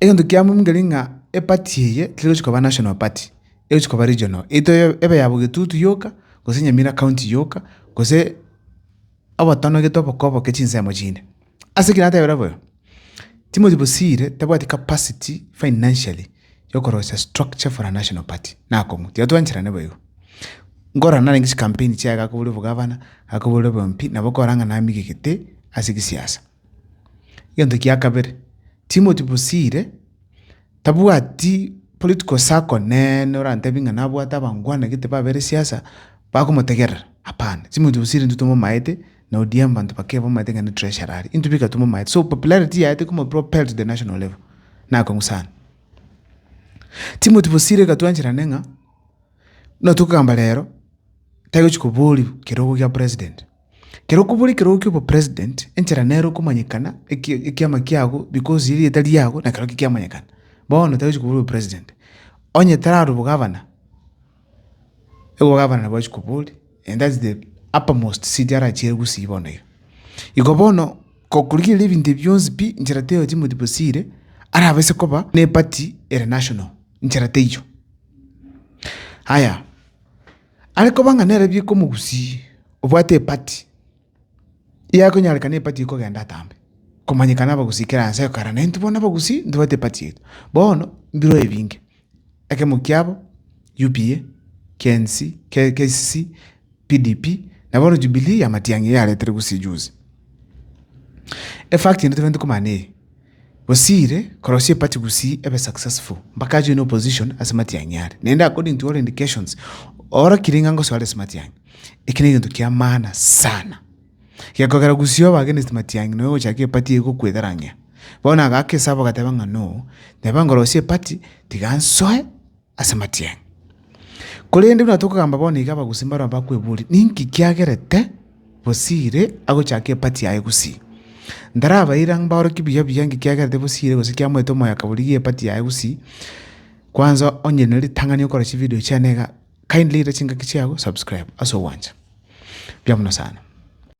Egento kia muhimu keri ng'a eparty eye terochi koba national party, erochi koba regional, eto ebe ya bogetutu yoka, gose nyamira county yoka, gose obotonogetwe oboke oboke chinsemo chinde. Ase ekio natebire boyo, Timothy Bosire tabwati capacity financially ya okorosia structure for a national party, nakong'u, tiga twancherane bo igo. Nkorora narenge chicampaign chiaye gakoboria obogavana, gakoboria obwo MP, nabo okorora ng'a namigete ase egesiasa. Egento kia kabere, Timothy Bosire tabwati political circle neene orantebie ng'a nabwate abango bwane gete babere siasa bakomotegerera, hapana. Timothy Bosire intwe tomomaete na ODM banto bake bamaete ng'a ne treasurer are, intwe bika tomomaete. So popularity yaye tekomo propel to the national level, nakong'u sana. Timothy Bosire iga twancherane ng'a, buna tokogamba rero, taigochi koboriwu kerogo gia president. Kera okobora ekerogo ki'obopresident, enchera nere okomanyekana, eki- ekiama kiago, because erieta riago nekero kiamanyekana. Bono tari gochia kobora obopresident, onye tarare obogavana, obogavana nabo achia kobori, and that's the uppermost seat arachiere gusii bono iga. Igo bono, gokorigereria ebinto ebi bionsi pi, nchera teiyo ya Timothy Bosire, arabase koba ne'party ere national, nchera teiyo. Haya. Are koba ng'a nere bikomogusii, obwate epati, iga ekonyarekana epati ekogenda atambe, komanyeka nabagusii kera ense eye kare, na intwe bono abagusii ntobwate epati yaito. Bono mbireo ebinge, ekemo kiabo UPA, KNC, KCC, PDP, na bono Jubilee ya Matiang'i yaretire gusii juzi. Efact ende tobwenerete komanya neye. Bosiire korosia eparty gusii ebe successful mpaka ajoine opposition ase matiang'i are naende according to all indications orokire ng'a ngosoare ase matiang'i eki negento kia maana sana gekogera gusii obe against matiang'i nonya ogochaka eparty egokwegarang'ia bono agaaka esaba ogateba ng'a no neba nkorosie eparty tiga nsoe ase amatiang'i. Korende buna tokogamba bono iga abagusii mbaro abakweboria, Ninki kiagerete bosiire agochake epati yaye gusii? Ntarabaira ng'a mbaorokie buya buya inki kiagerete bosiire gose kiamoete omoyo akaborigia epati yaye gusii. Kwanza onye ne ritang'ani okore chividio chiane iga, kindly ira chingaki chiago subscribe ase ogwancha. Mbuya mono sana.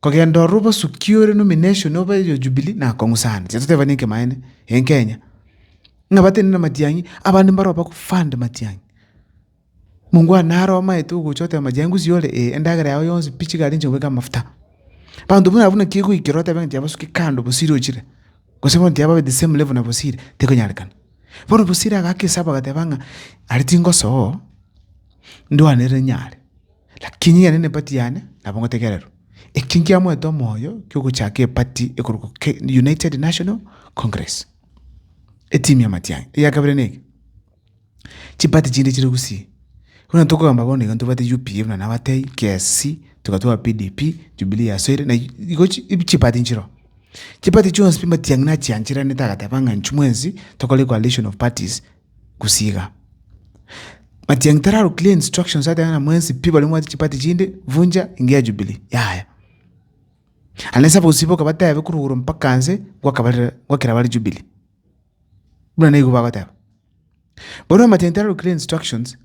Kogenda ororo obosukie ore nomination obe yo Jubilee nakong'usana. Titotebani enkemaene en Kenya. Ng'a batenena matiang'i abande mbaro baku fund matiang'i. Mungu anaro omaete ogocha oteba matiang'i ngusi ore ee endagera yao yonsi pi chigari inche ngweka amafuta. Banto buna abwo naki egoikera otebe ng'a tia basuke kando bosire ochire. Gose bono tia babe the same level na bosire tekonyarekana. Bono bosire agaka esabu agateba ng'a are tingosoa ndwane ere nyare. Lakini inye nere nepati yane nabo ngotegererwa, ekio nkiamoete omoyo ki'ogochaka epati ekorokwa Ke- United National Congress, etimu y'amatiangi. Eya kabere neke, chipati chinde chire gusii. Buna tokogamba bono iga ntobwate UPA buna nabatebie, KSC, togatoa PDP, Jubilee yasoire, na igo chi- igo chipati nchiroo. Chipati chionsi pi matiang'i nachiancheranete agateba ng'a inchuo mwensi tokore coalition of parties, gosiiga. Matiang'i tararwa clear instructions ateba ng'a mwensi pi baria mwati chipati chinde vunja engiya ya Jubilee, yaya. Aye nase abagosiboka batebe korwa igoro mpaka nse gwakabarire gwakera bare Jubilee. Buna nigo bagoteba. Bono Matiang'i tararwa clear instructions.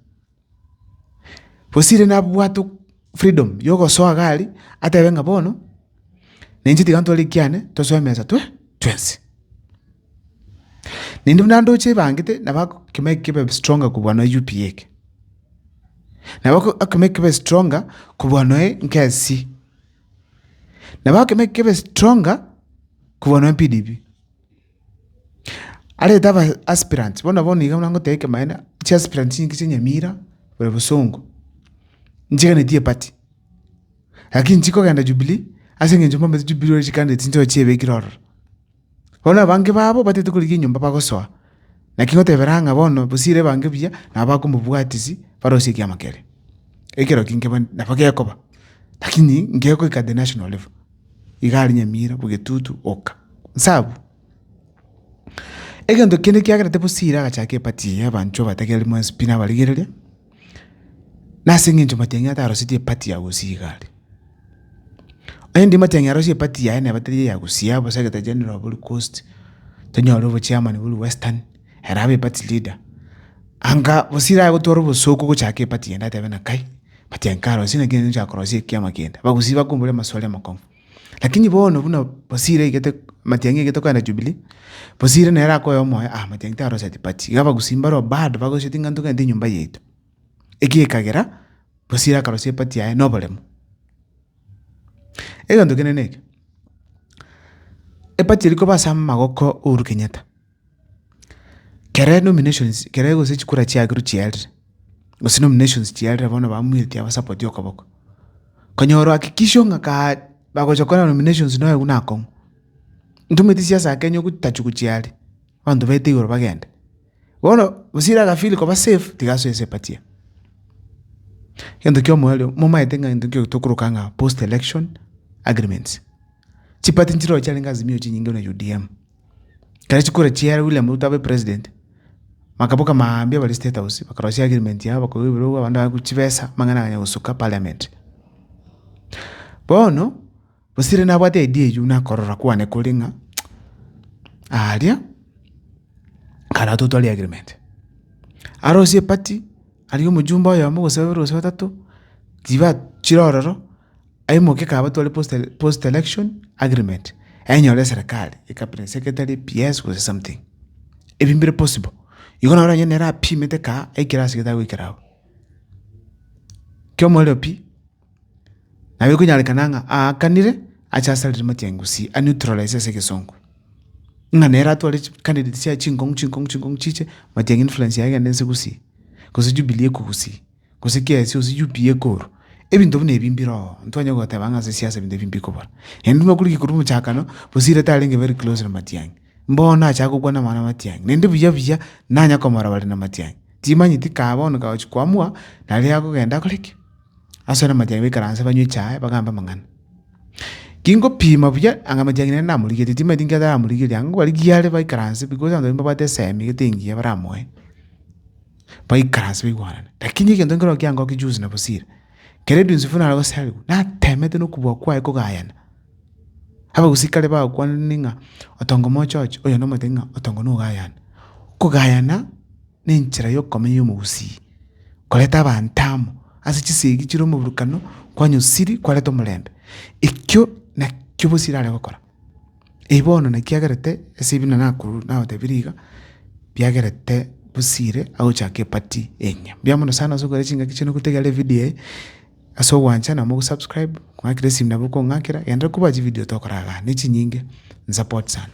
Bosire nabwate ok- freedom yogosoa gari, atebe ng'a bono, na inche tiga ntware ekiane tosoe emesa twe twensi. Naende buna ndoche ebangete, nabo ak- ekemo eke kebe stronger kobua noe UPA eke. Nabo oko- ekemo eke kebe stronger kobua noe nkesi. Nabo ekemo eke kebe stronger kobua noe PDP. Arete aba aspirants bono bono iga buna ngoteba ekemanera, chi aspirants chinki chia nyamira, bore bosongo, nchiganetie party, lakini nchikogenda jubilee ase eng'encho mbamaete jubilee ore candidate nchiroche chiebekire ororo. Bono abange babo batagete korigia enyomba bagosoa, naki ngotebera ng'a bono bosire ebange buya nabo bakomobwatisi barosie ekiama kere. Ekero ki nkeba nabo gekoba, lakini ngegoika the national level. igari nyamira bwegetutu oka nsa abwo. Egento kende kiagerete bosire agachaka epati eye abanchwa batake aria mwensi pi nabarigereria, nase eng'encho matiang'i atarositie epati ya gosia egari. Rende matiang'i arosie epati yaye naye batari eya gosia bosa egete general boria coast, tonyore obochairman boria western. ere abe party leader, anga gose irae gotwara obosooku gochaaka eparty yende atebe ng'a kai, party eye nkarosie naki nere ninche korosia ekiama kende. Bagusii bakombora amaswali amakong'u. Lakini bono buna gose ira aigete matiang'i aigete kogenda Jubilee, gose ira nere akoe omoyo ah matiang'i taroseti party. Iga abagusii mbaro bado bagoseti ng'a ntogende enyomba yaito. Eki gekagera gose ira akarosia eparty yaye na oboremu. Egento kende neke, eparty eri koba ase amagoko a Uhuru Kenyatta. Kere nominations kere gose chikura chiakerwa chiarire, gose nominations chiarire bono bamwetia abasapotie okoboko, konyora hakikisho ng'a kaa bagocha gokora nominations na oyo buna akong'u. Ntomanyeti siasa ya Kenya ogotachwa gochia are, abanto baete igoro bagende. Bono Osiri aga feel koba safe, tiga asoe ase party eye. Egento kia omoerio, momaete ng'a egento ekio tokoroka ng'a post election agreements. Chiparty nchiroche arenge Azimio chinyinge na UDM. Ekero chikura chiaye William Ruto abe president, bakaboka mambia bare state house bakarosia agreement yabo bakoigwa ebirogo abanto bakoigwa chibesa amang'ana akanya gosuka parliament. Bono gose rende nabwate idea eywo buna akorora kwane kore ng'a aria kare atotwarie agreement. Arosie eparty aria omojumbe oyomo gose babere gose batato chiba chire ororo. Aimoke kabatware post post election agreement enyore serikali ikabira secretary PS gose something ebi mbire possible igo naro onye nere apimete ka aikire ase gete agoikera agwo. Kio omoerio pi nabo ekonyarekana ng'a aakanire ache asarire mati ya Gusii a neutralize ase egesongo ng'a nere atware chi candidate chiaye chinkong'u chinkong'u chinkong'u chiche mati ya influence yaye egende inse Gusii gose Jubilee ekwe Gusii. gose kiasie gose UPA ekorwa, ebinto buna ebi mbire oo, ntibanya goteba ng'a ase siasa ebinto ebi mbikobora. Naende buna okorikire korwa omochakano, Bosire tarenge very close na Matiang'i, bono acha gokwana amang'ana a Matiang'i, naende buya buya nanya komora bare na Matiang'i. Timanyeti kaa bono kagochi koamua, nare agogenda akore ki? Asore na Matiang'i baikaranse banywe echae bagambe amang'ana. Kingopima buya, anga Matiang'i nere namorigetie, timanyeti inki ataramorigeretie, anga kobarigia are baikaranse because abanto baria mbabwate esemi gete engiya baramoe. baikaranse baigwanane. Lakini egento nkero kiangokia juzi na bosire, kere edunsi funa nare gosariwa, natemete na okobua kwaye kogayana. Abagusii kare bagokwanire ng'a otonge omoche oche, oyo nomotebie ng'a otonge na ogayane. Kogayana na enchera ya okomenya ya omogusii, koreta abanto amo ase chisegi chire omoburukano, kwanywa siri, kwareta omorembe. Ekio nakio bosire are gokora. Eyi bono naki agerete ase ebi narakorwa nabatebirie iga, biagerete bosire agochaka epati enyia. Mbuya mono sana ase okogera chingaki chiaino gotegerera evidio eye ase ogwancha nabo ogosubscribe ng'akere esimi nabo okong'akera genderera koba chividio tokora igaa na echinyinge nsupport sana.